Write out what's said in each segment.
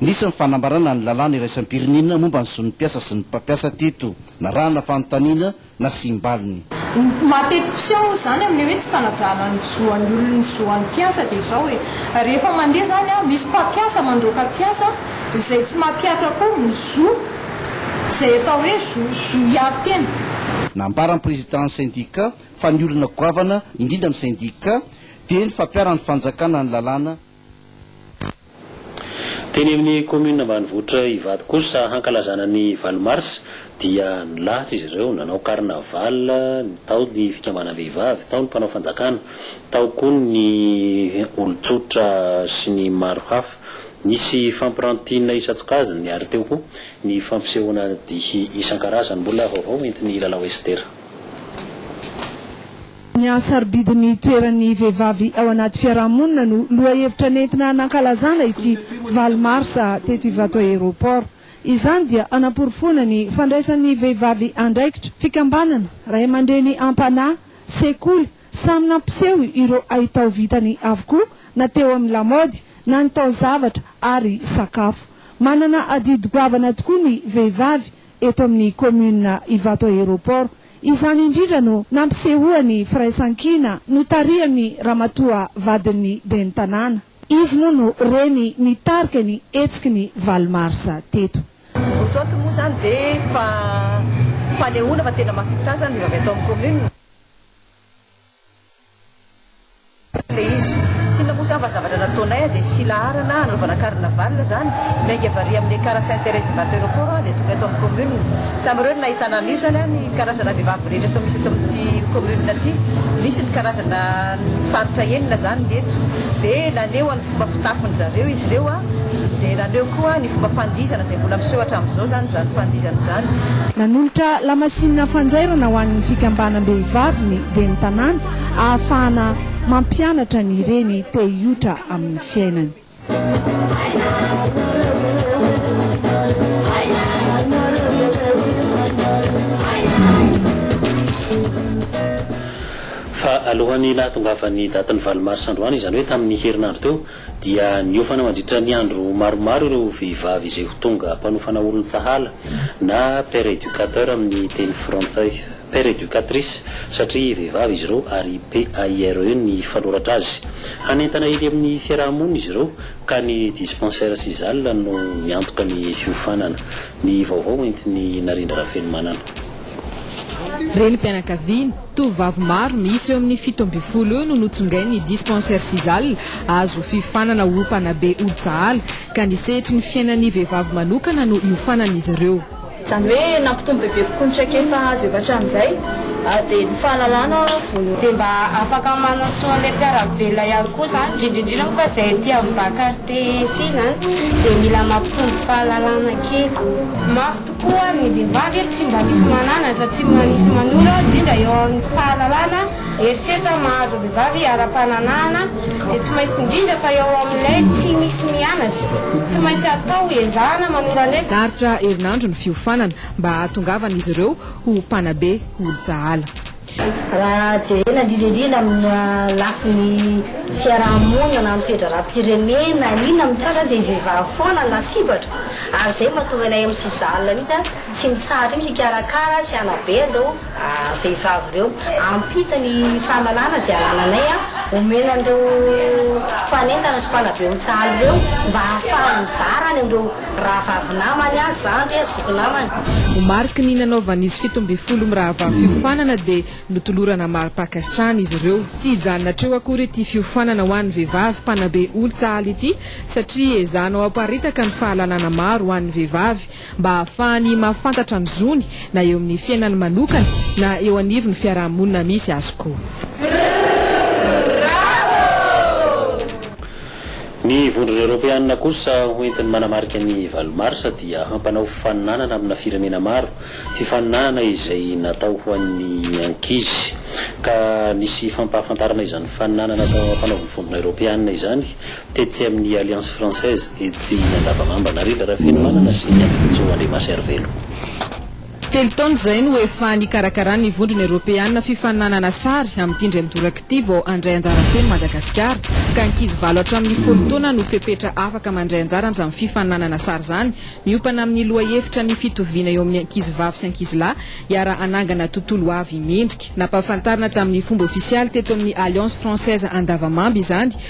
Nisy ny fanambarana ny lalàna iraisam-pirenena momba ny zon'ny mpiasa sy ny mpampiasa teto. Narahana fanontaniana, nasiam-baliny. Ny maha tetik'seho izany amin'ilay hoe tsy fanajana ny zo an'ny olona ny zo an'ny mpiasa dia izao e, rehefa mandeha izany an, misy mpampiasa mandroaka mpiasa izay tsy mampihatra akory ny zo, izay atao hoe zo, zo hiaro tena. Nambaran'ny prezidàn'ny sendikà fa ny olana goavana indrindra amin'ny sendikà dia ny fampiharan'ny fanjakana ny lalàna Teny amin'ny kaominina ambanivohitra Ivato kosa, hankalazana ny valo mars, dia nilahatra izy ireo. Nanao carnaval, tao ny fikambanam-behivavy, tao ny mpanao fanjakana, tao koa ny olon-tsotra sy ny maro hafa. Nisy fampirantiana isan-tsokajiny ary teo koa ny fampisehoana dihy isan-karazany. Mbola vaovao entin'ny Lalao Esther. Ny hahasarobidy ny toeran'ny vehivavy ao anaty fiarahamonina no lohahevitra nentina nankalazana ity valo marsa teto Ivato Aéroport. Izany dia hanaporofoana ny fandraisan'ny vehivavy andraikitra, fikambanana, ray aman-dreny am-panahy, sekoly, samy nampiseho ireo haitao vitany avokoa na teo amin'ny lamaody na ny taozavatra ary sakafo. Manana adidy goavana tokoa ny vehivavy. eto amin'ny kaominina Ivato Aéroport. Izany indrindra no nampisehoany firaisankina notarihan'ny ramatoa vadin'ny ben'ny tanàna. Izy moa no reny nitarika ny hetsiky ny valo marsa teto. Eto ato moa izany dia efa fanehoana fa tena mahavita izany ny vehivavy ato amin'ny kaominina. ilay izy. Tsinona moa izany fa zavatra nataonay an, dia filaharana hanaovana carnaval izany, miainga varier amin'ny car Sainte Thérèse Imbato Aéroport an, dia tonga eto amin'ny commune. Tamin'ireo no nahitana an'io izany an, ny karazana vehivavy rehetra toa misy eto amin'ity commune ity, misy ny karazana faritra enina izany ny eto, dia naneho ny fomba fitafin'ny zareo izy ireo an, dia naneho koa ny fomba fandihizana izay mbola miseho hatramin'izao izany izany fandihizana izany. Nanolotra lamasinina fanjairana ho an'ny fikambanam-behivavy ny ben'ny tanàna ahafahana mampianatra ny reny te hiotra amin'ny fiainany. Fa alohan'ny nahatongavan'ny datin'ny valo marsa androany, izany hoe tamin'ny herinandro teo, dia niofana mandritra ny andro maromaro ireo vehivavy izay ho tonga mpanofana olon-tsahala na père éducateur amin'ny teny frantsay. Père Educatrice, satria vehivavy izy ireo ary PAIRE ny fanoratra azy. Hanentana eny amin'ny fiaraha-monina izy ireo ka ny dispensaire sy zal no miantoka ny fiofanana. Ny vaovao entin'i Narindra Rafenomanana. Renim-pianakaviana, tovovavy maro miisa eo amin'ny fito ambin'ny folo eo no notsongain'ny dispensaire sy zal azo fiofanana ho mpanabe olon-tsahala ka ny sehatry ny fiainan'ny vehivavy manokana no iofanan'izy ireo. Izany hoe nampitombo bebe kokoa ny traikefa azo efa hatramin'izay dia ny fahalalana vono. Dia mba afaka manasoa an'ilay mpiara-belona ihany koa izany, indrindra indrindra moa fa izay aty amin'ny Vacarte aty izany dia mila mampitombo fahalalana kely. Mafy tokoa ny vehivavy, tsy mba misy mananatra, tsy mba misy manoro indrindra eo amin'ny fahalalana Herisetra mahazo vehivavy ara-pananahana dia tsy maintsy indrindra fa eo amin'ilay tsy misy mianatra. Tsy maintsy atao hiezahana manora ny. Darotra herinandro ny fiofanana mba hahatongavan'izy ireo ho mpanabe olo-tsahala. Raha jerena indrindra indrindra amin'ny lafiny fiaraha-monina na ny toe-draharaham-pirenena na inona mitranga dia ny vehivavy foana no lasibatra ary izay mahatonga ilay MCJAL mihitsy tsy mitsahatra mihitsy hikarakara sy hanabe andao vehivavy ireo. Ampita ny fahalalana izay anananay omena an'ireo mpanentana sy mpanabe otsahaly ireo mba hahafahany mizara any amin'ireo rahavavy namany, zandry, zoky namany. Ho mariky ny nanaovan'izy fito ambin'ny folo mirahavavy fiofanana dia notolorana mari-pankasitrahana izy ireo. Tsy hijanona hatreo akory ity fiofanana ho an'ny vehivavy mpanabe olon-tsahaly ity satria ezahana ho aparitaka ny fahalalana maro ho an'ny vehivavy mba hahafahany mahafantatra ny zony na eo amin'ny fiainany manokana na eo anivon'ny fiaraha-monina misy azy koa. Ny Vondrona Eoropeanina kosa ho entiny manamarika ny valo marsa dia hampanao fifaninanana amina firenena maro, fifaninanana izay natao ho an'ny ankizy ka nisy fampahafantarana izany fifaninanana atao ampanaovin'ny Vondrona Eoropeanina izany Tetsy amin'ny Alliance Française etsy Andavamamba, Anarila Rafenomanana sy ny Ampihotso Andriamaservelo. Telo taona izay no efa nikarakaran'ny Vondrona Eoropeana fifaninanana sary amin'ity indray midoraka ity vao handray anjara feno Madagasikara, ka ankizy valo hatramin'ny folo taona no fepetra afaka mandray anjara amin'izany fifaninanana sary izany, miompana amin'ny lohahevitra ny fitoviana eo amin'ny ankizivavy sy ankizilahy hiara-hanangana tontolo ho avy mendrika. Nampahafantarina tamin'ny fomba ofisialy teto amin'ny Alliance Française Andavamamba izany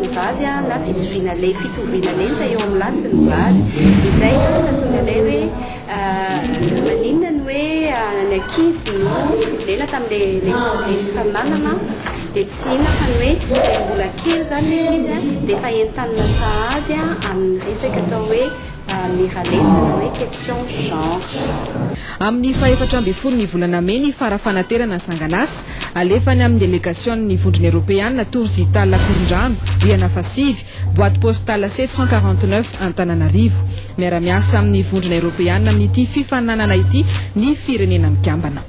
ny vavy na fitoviana lenta fitoviana lenta eo amin'ny lahy sy ny vavy izay mahatonga anay hoe maninona ny hoe ny ankizy no siblena tamin'ilay mpaminanana dia tsy inona fa ny hoe ilay mbola kely izany ilay izy dia efa entanina sahady amin'ny resaka atao hoe Miralenta ny hoe question genre. Amin'ny fahefatra ambin'ny folo ny volana mey ny fara-fanaterana sanganasa alefa any amin'ny delegasion'ny Vondrona Eropeana tour Zital Akorondrano, rihana fahasivy, boite postale sept cent quarante neuf, Antananarivo. Miara-miasa amin'ny Vondrona Eropeana amin'ity fifaninanana ity ny Firenena Mikambana.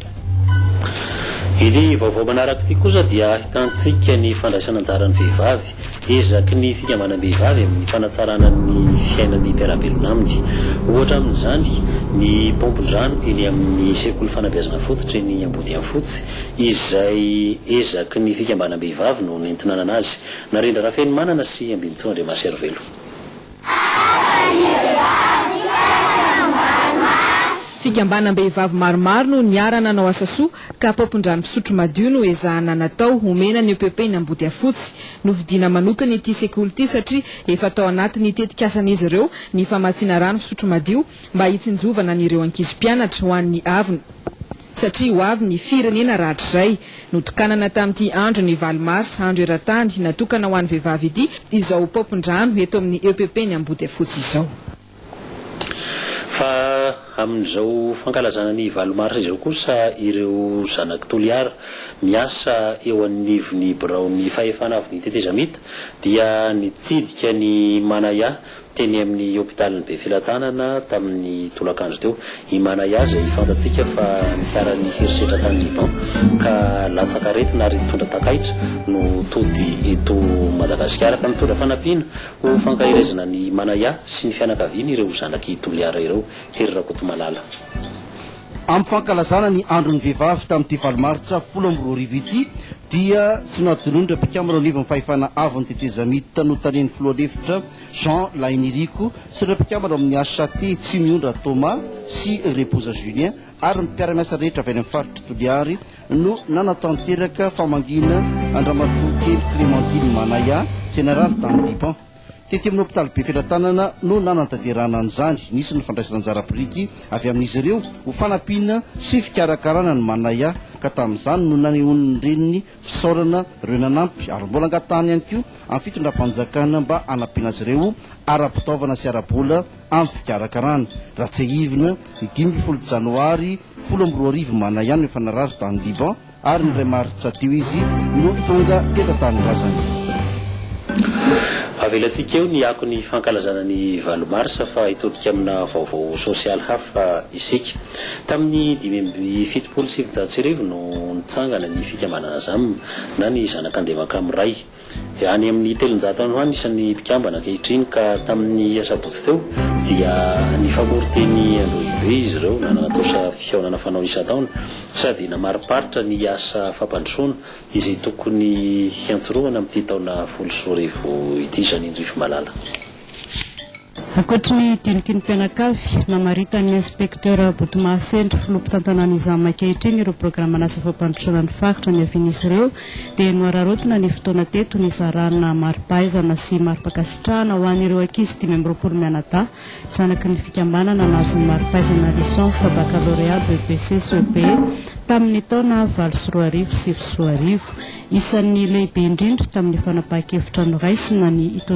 Ity vaovao manaraka ity kosa dia ahitantsika ny fandraisan'anjaran'ny vehivavy. Ezaky ny fikambanam-behivavy amin'ny fanatsarana ny fiainan'ny mpiara-belona aminy. Ohatra amin'izany ny paompin-drano eny amin'ny sekoly fanabeazana fototra eny Ambodiafotsy izay ezaky ny fikambanam-behivavy no nentinanana azy. Narendra Rafenomanana sy Ambinintsoa Andriamaserivelo. Fikambanam-behivavy maromaro no niara-nanao asa soa, ka paompin-drano fisotro madio no ezahana natao homena ny EPP eny Ambodiafotsy. Novidiana manokana ity sekoly ity satria efa tao anatin'ny tetikasan'izy ireo ny famatsiana rano fisotro madio mba hitsinjovana an'ireo ankizy mpianatra ho an'ny avona. satria ho avy ny firenena rahatrizay. Notokanana tamin'ity andron'ny valo mars, andro eran-tany natokana ho an'ny vehivavy ity, izao paompin-drano eto amin'ny EPP ny Ambohidafotsy izao. Fa amin'izao fankalazana ny valo mars izao kosa ireo zanak'i Toliara, miasa eo anivon'ny biraon'ny fahefana avy ny tetezamita dia nitsidika ny Manaya, Teny amin'ny hopitalin'i Befelatanana tamin'ny tolakandro teo i Manaya izay fantatsika fa niharan'ny herisetra tany Liban ka latsakareti-na ary nitondra takaitra no tody eto Madagasikara ka mitondra fanampiana ho fankaherezana an'i Manaya sy ny fianakaviany ireo zanak'i Toliara ireo, Hery Rakotomalala. Amin'ny fankalazana ny andron'ny vehivavy tamin'ity valo martsa folo amby roa arivo ity dia tsy nahadinonin'ireo mpikambana ao anivon'ny fahefana avon'ny tetezamita notarihan'ny filoha lefitra Jean Lahiniriko sy ireo mpikambana ao amin'ny HCT, Tsimiondra Thomas sy Reboza Julien ary ny mpiara-miasa rehetra avy any amin'ny faritry Toliary no nanatanteraka famangiana an-dramatoa kely Clémentine Manaya izay narary tamin'ny biban. Tety amin'ny hopitaly Befelatanana no nanantanterahana an'izany. Nisy ny fandraisan'anjara biriky avy amin'izy ireo ho fanampiana sy fikarakarana an'i Manaya ka tamin'izany no nanehoan'ny reniny Fisaorana ireo nanampy ary mbola angatahany ihany koa amin'ny fitondram-panjakana mba hanampiana azy ireo ara-pitaovana sy ara-bola amin'ny fikarakarana. Raha tsiahivina, ny dimy ambin'ny folo Janoary folo amby roa arivo manahy no efa narary tany Liban ary ny iray Martsa teo izy no tonga tety an-tanindrazana. Avelantsika eo ny akon'ny fankalazana ny valo Marsa fa hitodika amina vaovao sosialy hafa isika. Tamin'ny dimy amby fitopolo sy sivinjato sy arivo no nitsangana ny fikambanana Zam na ny zanak'Andevankamo iray. Any amin'ny telonjato any ho any isan'ny mpikambana ankehitriny ka tamin'ny asabotsy teo dia nifamory teny Andohibe izy ireo na nanatosa fihaonana fanao isan-taona sady namariparitra ny asa fampandrosoana izay tokony hiantsorohana amin'ity taona folo sy roa arivo ity Janine Juifimalala. Ankoatry ny diniky ny mpianakavy, namaritan'ny Inspektera Botomahasentra, Filoha mpitantanan'ny Izam ankehitriny ireo programan'asa fampandrosoana ny faritra niavian'izy ireo dia nohararaotina ny fotoana teto nizarana maripahaizana sy maripankasitrahana ho an'ireo ankizy dimy amby roapolo mianadahy zanaky ny fikambanana nahazo ny maripahaizana Licence Baccalauréat BEPC Soepe tamin'ny taona valo sy roa arivo sy sivy sy roa arivo. Isan'ny lehibe indrindra tamin'ny fanapahan-kevitra noraisina ny hitondra